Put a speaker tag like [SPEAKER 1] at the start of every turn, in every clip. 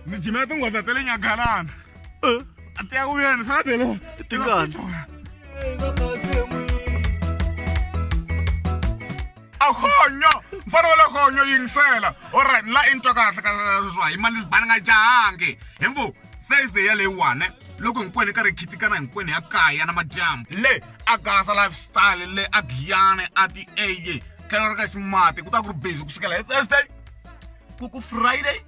[SPEAKER 1] ni jimela tinghoza ta le nyagalana a ti ya ku yena sala tele
[SPEAKER 2] Tingani?
[SPEAKER 1] akhonyo mfana wale khonyo yingisela olright la into kahle ka sweswa hi mani bani nga jahangi hi mvu Thursday ya leyiwani loko hinkwenu hi karhi hi khitikana hinkwenu ya kaya na madyambu le a gasa lifestyle le a giyane a ti eye tlhelo ra ka ximati ku ta ku ri busy ku sukela hi Thursday ku ku Friday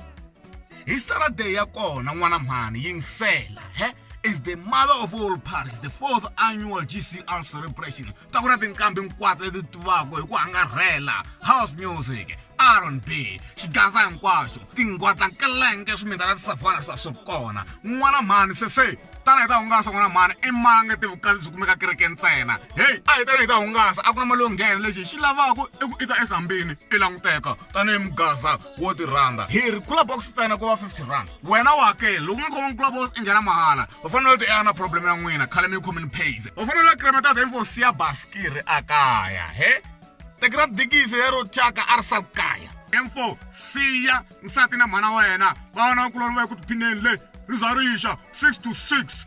[SPEAKER 1] hi Saturday ya kona n'wana mhani yingisela he is the mother of all parties, the fourth annual GCR celebration ta ku na tinqambi hinkwato leti tivaka hi ku angarhela house music rnb xigaza hinkwaxo tingwadla nkelenge swimindana tisavana swa swi kona n'wana mhani sese tana hi ta hungasa n'wana mhani i mange tivukati byi kumeka kereke ntsena heyi a hi tana hi ta hungasa a ku na mali yo nghena lexi hi xi lavaka i ku i ta ehlambini i languteka tanihi mugaza wo ti rhanda hi ri kula box ntsena ku va 50 rand wena u hakeli loko nga khomi kula box i nghena mahala u fanele u ti ea na problem ya n'wina khale mi yi khomini pays u fanele u kremeta ta info siya baskiri a kaya he tekira dikisi lero tyaka a ri sal kaya info siya nsati na mhana wa yena va vona kuloni va yi ku tiphineni le ri za rixa 6 to 6